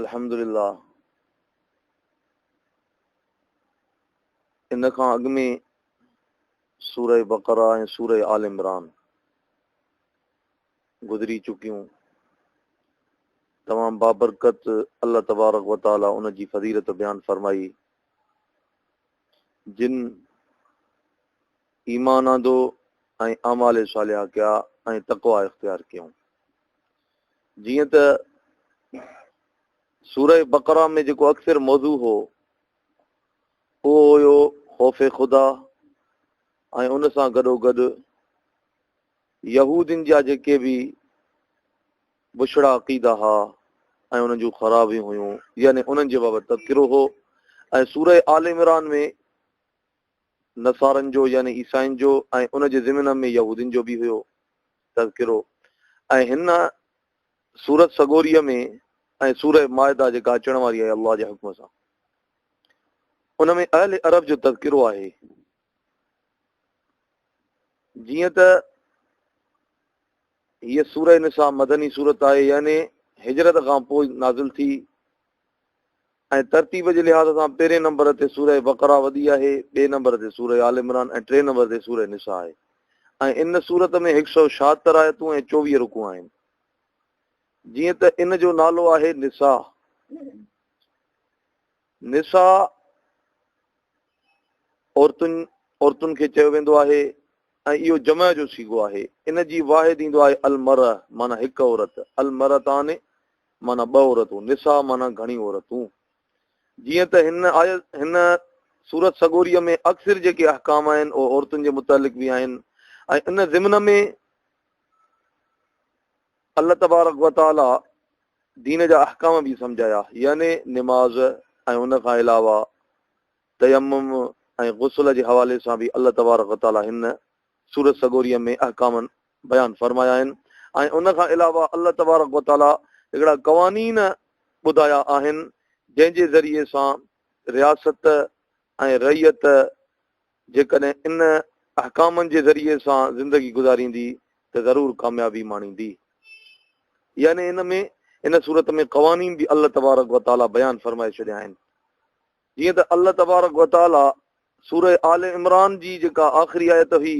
الحمدلله ان کان اڳ ۾ سوره بقره ۽ سوره آل عمران گذري چڪيون تمام بابرڪت الله تبارڪ و تعالي ان جي فضيلت بيان فرمائي جن ايمان آندو ۽ اعمال صالحه ڪيا ۽ تقوى اختيار ڪيون جيئن ته سوره بقره ۾ جيڪو اڪثر موضوع هو اهو هيو خوف خدا ۽ ان سان گڏو گڏ يهودين جا جيڪي به بڇڙا عقيدا ها ۽ انهن جون خرابيون هيون يعني انهن جي بابت تذڪرو هو ۽ سوره آل عمران ۾ نصارن جو يعني عيسائين جو ۽ ان جي ضمن ۾ يهودين جو به هيو تذڪرو ۽ هن سورت سڳوريء ۾ ۽ سوره مائده جيڪا اچڻ واري آهي الله جي حڪم سان ان ۾ اهل عرب جو تذڪرو آهي جيئن ته هيء سوره نساء مدني صورت آهي يعني هجرت کان پوء نازل ٿي ۽ ترتيب جي لحاظ سان پهرين نمبر تي سوره بقره وڌي آهي، ٻئي نمبر تي سوره آل عمران ۽ ٽئين نمبر تي سوره نساء آهي ۽ ان سورت ۾ هڪ سؤ ڇاهتر آيتون ۽ چوويهه رڪوع آهن. جيئن ته ان جو نالو آهي نساء. نساء عورتن عورتن کي چيو ويندو آهي ۽ اهو جمع جو صيغو آهي. ان جي واحد ايندو آهي المرء معنی هڪ عورت، المرءتان معنيٰ ٻه عورتون، نساء معنيٰ گهڻيون عورتون. جيئن ته هن آيت، هن سورت سڳوريء ۾ اڪثر جيڪي احڪام آهن اهي عورتن جي متعلق به آهن ۽ ان ضمن ۾ الله تبارڪ و تعاليٰ دين جا احڪام به سمجهايا يعني نماز ۽ ان کان علاوه تيمم ۽ غسل جي حوالي سان به الله تبارڪ و تعاليٰ هن سورت سڳوريء ۾ احڪام بيان فرمايا آهن ۽ ان کان علاوه الله تبارڪ و تعاليٰ هڪڙا قوانين ٻڌايا آهن جنهن جي ذريعي سان رياست ۽ رعيت جيڪڏهن ان احڪامن جي ذريعي سان زندگي گذاريندي ته ضرور ڪاميابي ماڻيندي. يعني ان ۾ ان سورت ۾ قوانين به الله تبارڪ و تعاليٰ بيان فرمائي ڇڏيا آهن جيئن ته الله تبارڪ و تعاليٰ سورة آل عمران جي جيڪا آخري آيت هئي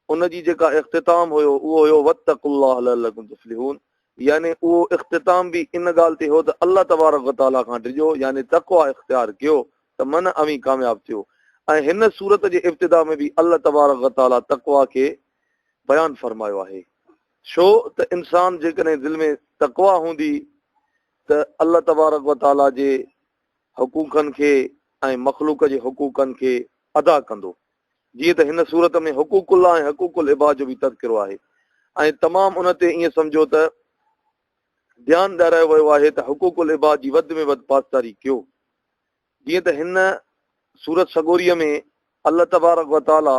ان جي جيڪا اختتام هيو اهو هيو واتقوا الله لعلڪم تفلحون يعني اهو اختتام به ان ڳالهه تي هيو ته الله تبارڪ و تعاليٰ کان ڊڄو يعني تقويٰ اختيار ڪيو ته من اوهين ڪامياب ٿيو ۽ هن سورت جي ابتدا ۾ به الله تبارڪ و تعاليٰ تقويٰ کي بيان فرمايو آهي ڇو ته انسان جيڪڏهن دل ۾ تقويٰ هوندي ته الله تبارڪ و تعاليٰ جي حقوقن کي ۽ مخلوق جي حقوقن کي ادا ڪندو. جيئن ته هن سورت ۾ حقوق الله ۽ حقوق العباد جو به تذڪرو آهي ۽ تمام ان تي ائين سمجهو ته ڌيان ڏيارايو ويو آهي ته حقوق العباد جي وڌ ۾ وڌ پاسداري ڪيو. جيئن ته هن سورت سڳوريء ۾ الله تبارڪ وتعاليٰ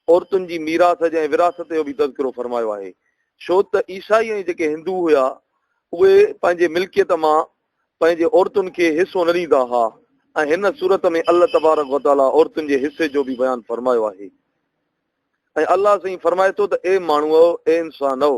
عورتن جي ميراث جي ۽ وراثت جو به تذڪرو فرمايو آهي. ڇو ته عيسائي ۽ جيڪي هندو هيا اهي پنهنجي ملڪيت مان پنهنجي عورتن کي حصو نه ڏيندا ها ۽ هن سورت ۾ الله تبارڪ وتعاليٰ عورتن جي حصي جو به بيان فرمايو آهي ۽ الله سائين فرمائي ٿو ته اي ماڻهوء اي انسانؤ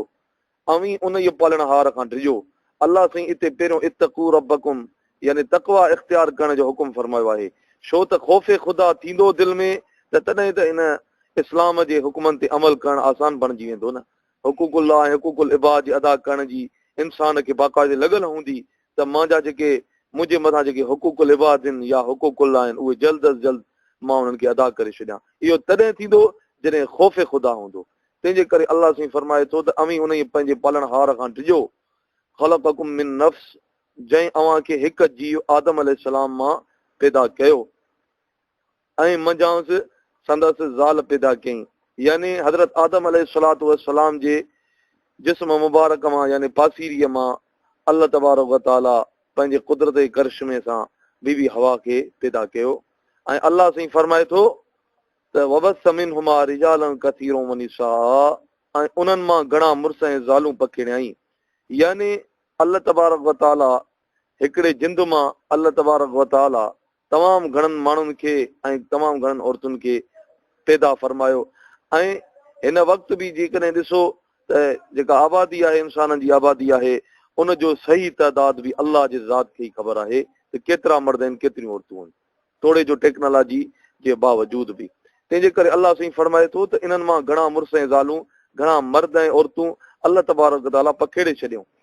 اوهين انهيء پالڻهار کان ڊڄو الله سائين اتي پهريون اتقوا ربکم يعني تقويٰ اختيار ڪرڻ جو حڪم فرمايو آهي ڇو ته خوف خدا ٿيندو دل ۾ ته تڏهن ته ان اسلام جي حڪمن تي عمل ڪرڻ آسان بڻجي ويندو نه حقوق الله ۽ حقوق العباد جي ادا ڪرڻ جي انسان کي باقاعدي لڳل هوندي ته مان جا جيڪي منهنجي مٿان جيڪي حقوق العباد آهن يا حقوق الله آهن اهي جلد از جلد مان انهن کي ادا ڪري ڇڏيان اهو تڏهن ٿيندو جڏهن خوف خدا هوندو تنهن جي ڪري الله سائين فرمائي ٿو ته اوهين انهي پنهنجي پالڻهار کان ڊڄو خلقكم من نفس جنهن اوهان کي هڪ جيو آدم عليه السلام مان پيدا ڪيو ۽ منجهانئس سندس زال پيدا ڪيائين. يعني حضرت آدم عليه الصلوة والسلام جي جسم مبارڪ مان يعني پاسيريء مان الله تبارڪ و تعاليٰ پنهنجي قدرت ۽ ڪرشمي سان بي بي حوا کي پيدا ڪيو ۽ الله سائين فرمائي ٿو ته وبث منهما رجالا ڪثيرا ونساء ۽ انهن مان گهڻا مڙس ۽ زالون پکيڙيائين يعني الله تبارڪ و تعاليٰ هڪڙي جند مان الله تبارڪ و تعاليٰ تمام گهڻن ماڻهن کي ۽ تمام گهڻن عورتن کي پيدا فرمايو ۽ هن وقت به جيڪڏهن ڏسو ته جيڪا آبادي آهي انسانن جي آبادي آهي ان جو صحيح تعداد به الله جي ذات کي ئي خبر آهي ته ڪيترا مرد آهن ڪيتريون عورتون آهن توڙي جو ٽيڪنالاجي جي باوجود به تنهن جي ڪري الله سائين فرمائي ٿو ته انهن مان گهڻا مڙس ۽ زالون گهڻا مرد ۽ عورتون الله تبارڪ تعالي پکيڙي ڇڏيائون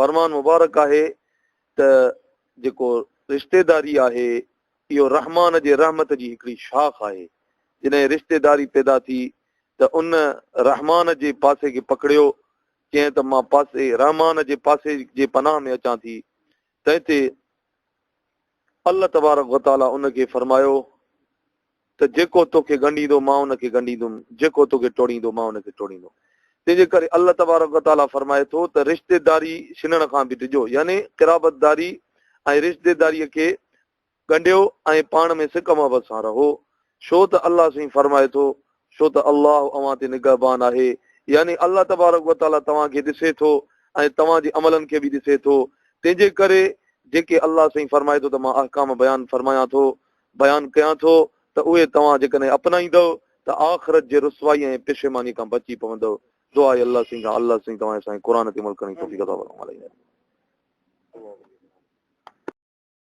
فرمان مبارڪ آهي ته جيڪو رشتيداري آهي اهو رحمان جي رحمت جي هڪڙي شاخ آهي، جڏهن رشتيداري پيدا ٿي ته ان رحمان جي پاسي کي پڪڙيو، چيائين ته مان پاسي رحمان جي پاسي جي پناهه ۾ اچان ٿي، تنهن تي الله تبارڪ وتعاليٰ ان کي فرمايو ته جيڪو تو کي ڳنڍيندو مان ان کي ڳنڍيندم، جيڪو تو کي ٽوڙيندو مان ان کي ٽوڙيندم. تنهن جي ڪري الله تبارڪ و تعاليٰ فرمائي ٿو ته رشتيداري شنڻ کان به ڊڄو يعني قرابتداري ۽ رشتيداريء کي ڳنڍيو ۽ پاڻ ۾ سڪ محبت سان رهو ڇو ته الله سائين فرمائي ٿو ڇو ته الله اوهان تي نگهبان آهي يعني الله تبارڪ و تعاليٰ توهان کي ڏسي ٿو ۽ توهان جي عملن کي به ڏسي ٿو تنهن جي ڪري جيڪي الله سائين فرمائي ٿو ته مان احڪام بيان فرمايان ٿو بيان ڪيان ٿو ته اهي توهان جيڪڏهن اپنائيندؤ ته آخرت جي رسوائي ۽ پشيماني کان بچي پوندؤ. دعا اي الله سين کان الله سين توهان اسان کي قرآن تي عمل ڪرڻ جي توفيق عطا فرماء.